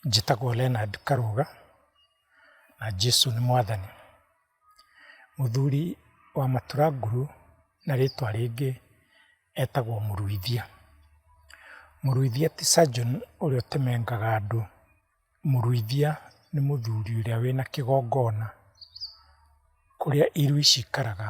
Njĩtagwo Leonard Karũga, na Jesũ nĩ mwathani. Mũthuri wa matura nguru na rĩtwa rĩngĩ etagwo mũruithia. Mũruithia ti surgeon ũrĩa ũtemengaga andũ, mũruithia nĩ mũthuri ũrĩa wĩna kĩgongona kũrĩa irui cikaraga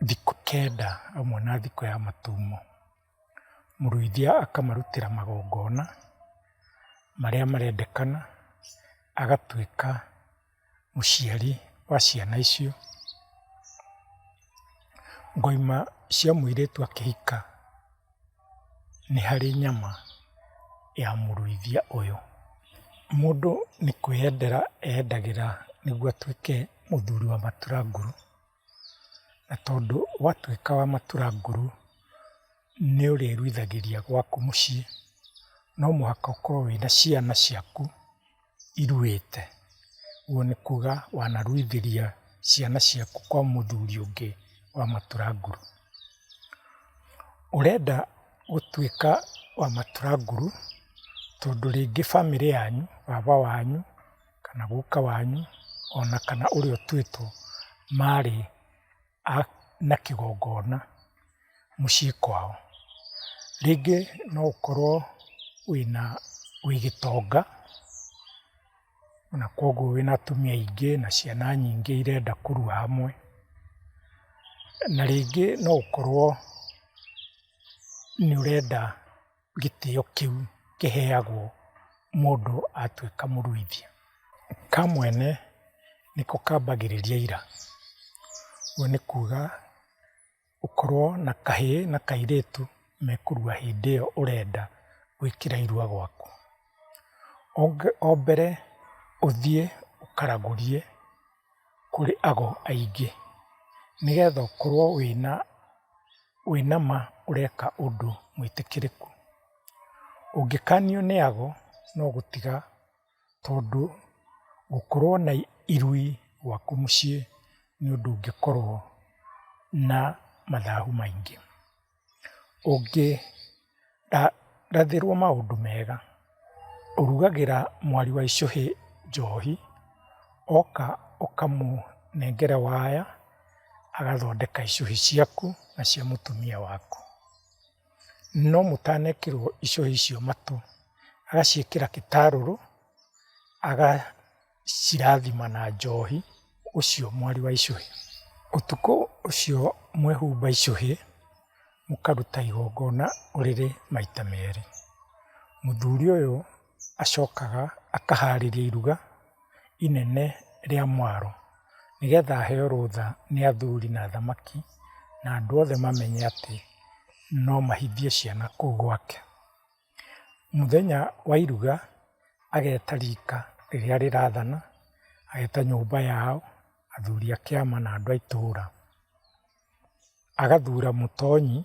thikũ kenda hamwe na thikũ ya matumo. mũruithia akamarutĩra magongona marĩa marendekana, agatuĩka mũciari wa ciana icio. Ngoima cia mũirĩtu akĩhika nĩ harĩ nyama ya mũruithia ũyũ. Mũndũ nĩ kwĩyendera eyendagĩra nĩguo atuĩke mũthuri wa matura ngũrũ. Na tondũ watuĩka wa matura nguru, nĩ ũrĩruithagĩria gwaku mũciĩ, no mũhaka ũkorwo wĩna ciana ciaku iruĩte, ũguo nĩ kuga wanaruithĩria ciana ciaku kwa mũthuri ũngĩ wa matura nguru. Ũrenda gũtuĩka wa matura nguru, tondũ rĩngĩ bamĩrĩ yanyu, baba wanyu kana guka wanyu ona kana ũrĩa ũtuĩtwo marĩ na kĩgongona mũciĩ kwao. Rĩngĩ no ũkorwo wĩna, wĩ gĩtonga na kuoguo wĩna atumia aingĩ na ciana nyingĩ irenda kũrua hamwe. Na rĩngĩ no ũkorwo nĩũrenda gĩtĩo kĩu kĩheagwo mũndũ atuĩka mũruithia. Kamwene nĩko kambagĩrĩria ira, ũguo nĩ kuga ũkorwo na kahĩ na kairĩtu mekũrua hĩndĩ ĩyo ũrenda gwĩkĩra irua gwaku. O mbere ũthiĩ ũkaragũrie. kũrĩ ago aingĩ, nĩgetha ũkorwo wĩna, wĩna ma ũreka ũndũ mwĩtĩkĩrĩku. Ũngĩkanio nĩ ago no gũtiga, tondũ gũkorwo na irui gwaku mũciĩ nĩ ũndũ ũngĩkorwo na mathahu maingĩ. Ũngĩrathĩrwo maũndũ mega, ũrugagĩra mwari wa icũhĩ njohi, oka ũkamũnengera waya, agathondeka icũhĩ ciaku na cia mũtumia waku. No mũtanekĩrwo icũhĩ icio matũ, agaciĩkĩra gĩtarũrũ, aga. cirathima na njohi ũcio mwari wa icũhĩ. Ũtukũ ũcio mwehumba icũhĩ, mũkaruta igongona ũrĩrĩ maita merĩ. Mũthuri ũyũ acokaga akaharĩria iruga inene rĩa mwaro, nĩgetha aheo rũtha nĩ athuri na athamaki na andũ othe mamenye atĩ no mahithie ciana kũu gwake. Mũthenya wa iruga ageta rika rĩrĩa rĩrathana, ageta nyũmba yao, athuri a kĩama na andũ a itũra. Agathura mũtonyi,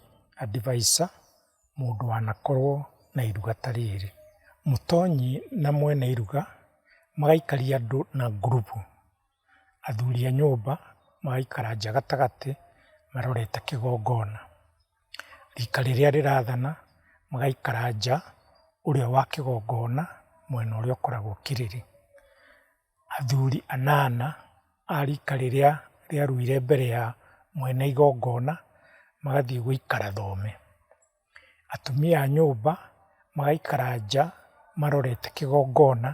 adviser, mũndũ wanakorwo na iruga ta rĩrĩ. Mũtonyi na mwene iruga magaikaria andũ na ngurubu. athuri a nyũmba magaikara nja gatagatĩ marorete kĩgongona. Rika rĩrĩa rĩrathana magaikara nja ũrĩa wa kĩgongona mwena ũrĩa ũkoragwo kĩrĩrĩ. Athuri anana a rika rĩrĩa rĩaruire mbere ya mwene igongona magathiĩ gũikara thome. atumia a nyũmba magaikara nja marorete kĩgongona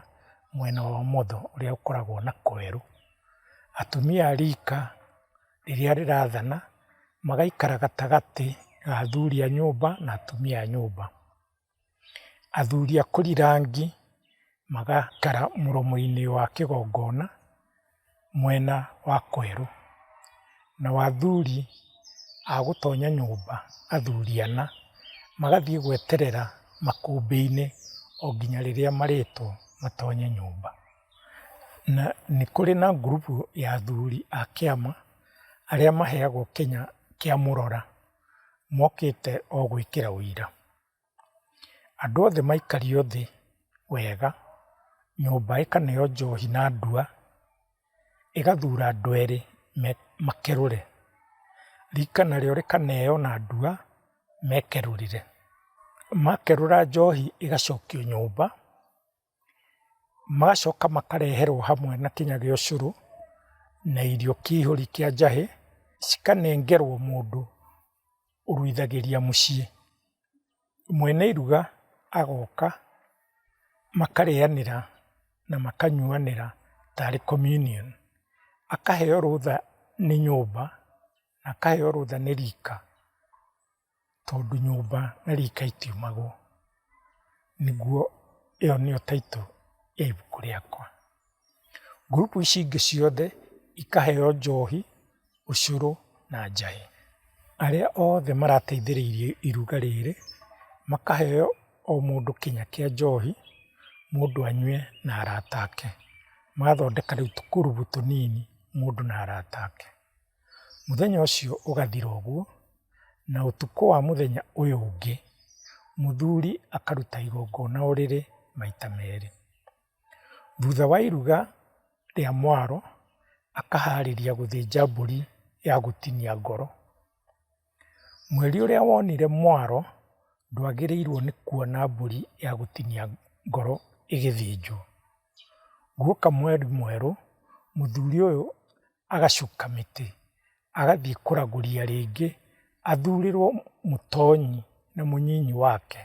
mwena wa ũmotho ũrĩa ũkoragwo na kwerũ. Atumia a rika rĩrĩa rĩrathana magaikara gatagatĩ ga athuri a nyũmba na atumia a nyũmba. Athuri a kũri rangi magaikara mũromo-inĩ wa kĩgongona. mwena wa kwerũ, nao athuri a gũtonya nyũmba, athuri ana, magathiĩ gweterera makũmbĩ-inĩ o nginya rĩrĩa marĩtwo matonye nyũmba. Na nĩ kũrĩ na group ya athuri a kĩama, arĩa maheagwo kĩnya kĩa mũrora, mokĩte o gwĩkĩra ũira. andũ othe maikario thĩ wega, nyũmba ĩkaneo njohi na ndua, ĩgathura andũ erĩ makerũre, rika narĩo rĩkaneo na ndua mekerũrĩre. Makerũra njohi ĩgacokio nyũmba. Magacoka makareherwo hamwe na kĩnya gĩa ũcũrũ na irio kĩihũri kĩa njahĩ, cikanengerwo mũndũ ũruithagĩria mũciĩ. Mwene iruga agoka makarĩanĩra na makanyuanĩra tarĩ communion. Akaheo rũtha nĩ nyũmba, akaheo rũtha nĩ rika. tondũ nyũmba na rika itiumagwo. Nĩguo ĩyo nĩyo title ya ibuku rĩakwa. Group ici ingĩ ciothe ikaheo njohi, ũcũrũ na njahi. Arĩa othe marateithĩrĩirie iruga rĩrĩ makaheo o mũndũ kĩnya kĩa njohi, mũndũ anyue na arata ake. Magathondeka rĩu tũkurubu tũnini mũndũ na arata ake. Mũthenya ũcio ũgathira ũguo, na ũtukũ wa mũthenya ũyũ ũngĩ, mũthuri akaruta igongona o rĩrĩ maita merĩ. Thutha wa iruga rĩa mwaro, akaharĩria gũthĩnja mbũri ya gũtinia ngoro. Mweri ũrĩa wonire mwaro, ndwagĩrĩirwo nĩ kuona mbũri ya gũtinia ngoro ĩgĩthĩnjwo. Guoka mweri mwerũ, mũthuri ũyũ agacuka mĩtĩ, agathiĩ kũragũria rĩngĩ, athurĩrwo mũtonyi na mũnyinyi wake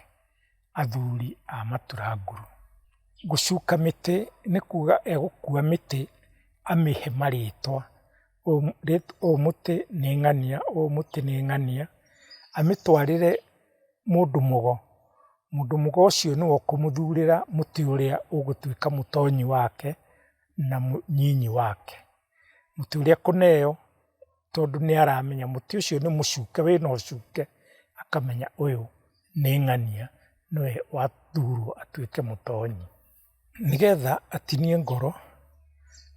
athuri a matura ngũrũ. Gũcuka mĩtĩ nĩ kuga egũkua mĩtĩ amĩhe marĩtwa, ũyũ mũtĩ nĩ ng'ania, ũyũ mũtĩ nĩ ng'ania, amĩtwarĩre mũndũ mũgo, mũndũ mũgo ũcio nĩwe ũkũmũthurĩra mũtĩ ũrĩa ũgũtuĩka mũtonyi wake. na mũnyinyi wake. Mũtĩ ũrĩa kũneo tondũ nĩaramenya mũtĩ ũcio nĩ mũcuke wĩna ũcuke, akamenya ũyũ nĩ ng'ania nĩwe wathurwo atuĩke mũtonyi. Nĩgetha atinie ngoro,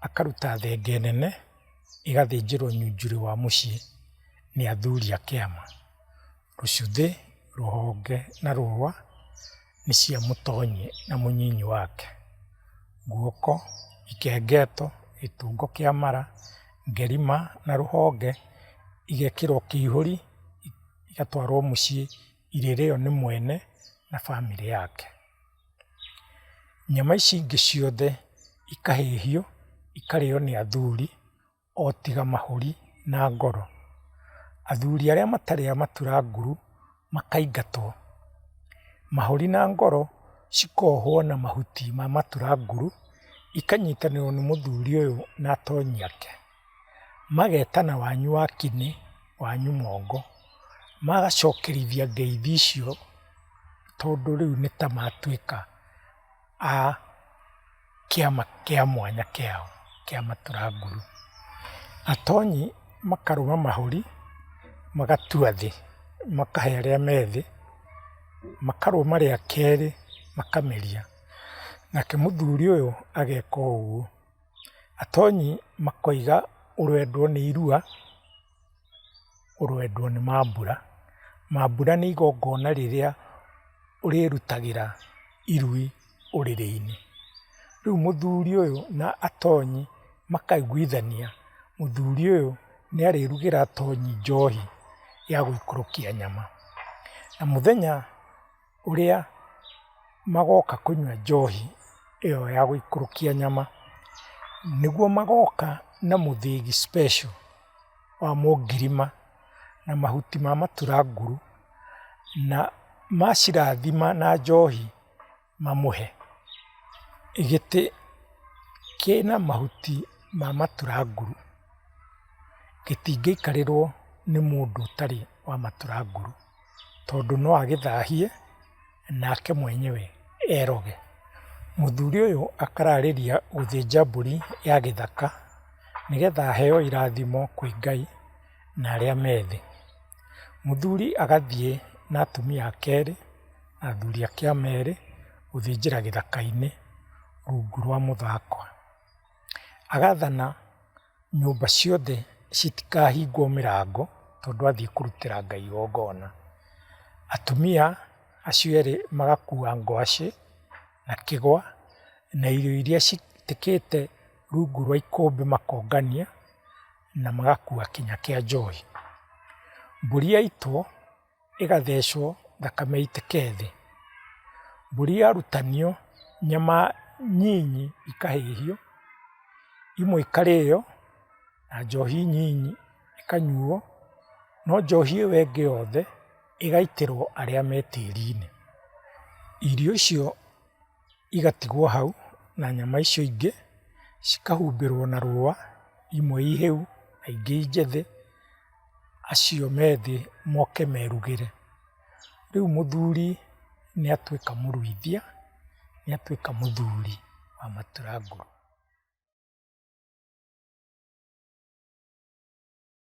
akaruta thenge nene ĩgathĩnjĩrwo nyunjurĩ wa mũciĩ nĩ athuri a kĩama. rũcuthĩ, rũhonge na rũa nĩ cia mũtonyi na mũnyinyi wake. Guoko, ikengeto, gĩtungo kĩa mara, ngerima na rũhonge igekĩrwo kĩihũri igatwarwo mũciĩ irĩrĩo nĩ mwene na bamĩrĩ yake. Nyama ici ingĩ ciothe ikahĩhio ikarĩo nĩ athuri. o tiga mahũri na ngoro. Athuri arĩa matarĩ a matura nguru makaingatwo. Mahũri na ngoro cikohwo na mahuti ma matura nguru, ikanyitanĩrwo nĩ mũthuri ũyũ na atonyi ake. Magetana wanyu wa kĩnĩ, wanyu mongo. Magacokerithia ngeithi icio tondũ rĩu nĩ ta matuĩka. a kĩama kĩa mwanya kĩao kĩa matura nguru. Atonyi makarũga mahũri, magatua thĩ, makahe arĩa me thĩ, makarũga marĩa kerĩ makameria. Nake mũthuri ũyũ ageka ũguo. Atonyi makoiga ũrendwo nĩ irua. kũrwendwo nĩ mambura. Mambura nĩ igongona rĩrĩa ũrĩrutagĩra irui ũrĩrĩ-inĩ. Rĩu mũthuri ũyũ na atonyi makaiguithania, mũthuri ũyũ nĩ arĩrugĩra atonyi njohi ya gũikũrũkia nyama. Na mũthenya ũrĩa magoka kũnyua njohi ĩyo ya gũikũrũkia nyama, nĩguo magoka na mũthĩgi special wa mũngirima na mahuti ma maturanguru, na macirathima na njohi mamũhe. Gĩtĩ kĩna mahuti ma maturanguru gĩtingĩikarĩrwo nĩ mũndũ ũtarĩ wa maturanguru. tondũ no agĩthahie nake mwenyewe eroge. Mũthuri ũyũ akararĩria gũthĩnja mbũri ya gĩthaka nĩgetha aheo irathimo kwĩ Ngai na arĩa me thĩ. Mũthuri agathiĩ na atumia ake erĩ na athuri ake a merĩ gũthĩnjĩra gĩthaka-inĩ rungu rwa mũthakwe. Agathana. Nyũmba ciothe citikahingwo mĩrango tondũ athiĩ kũrutĩra Ngai igongona. Atumia acio erĩ magakua ngwacĩ na kĩgwa na irio iria citĩkĩte rungu rwa ikũmbĩ makongania na magakua kinya kĩa njohi. Mbũri yaitwo. ĩgathecwo thakame ĩitĩke thĩ. Mbũri yarutanio nyama nyinyi ikahĩhio, imwe ikarĩo na njohi nyinyi ikanyuo, no njohi ĩyo ĩngĩ yothe ĩgaitĩrwo arĩa me tĩri-inĩ. Irio icio. igatigwo hau na nyama icio ingĩ cikahumbĩrwo na rũa, imwe i hĩu na ingĩ i njĩthĩ, acio me thĩ moke merugĩre. Rĩu mũthuri nĩ atuĩka mũruithia, nĩ atuĩka mũthuri wa matura ngũrũ.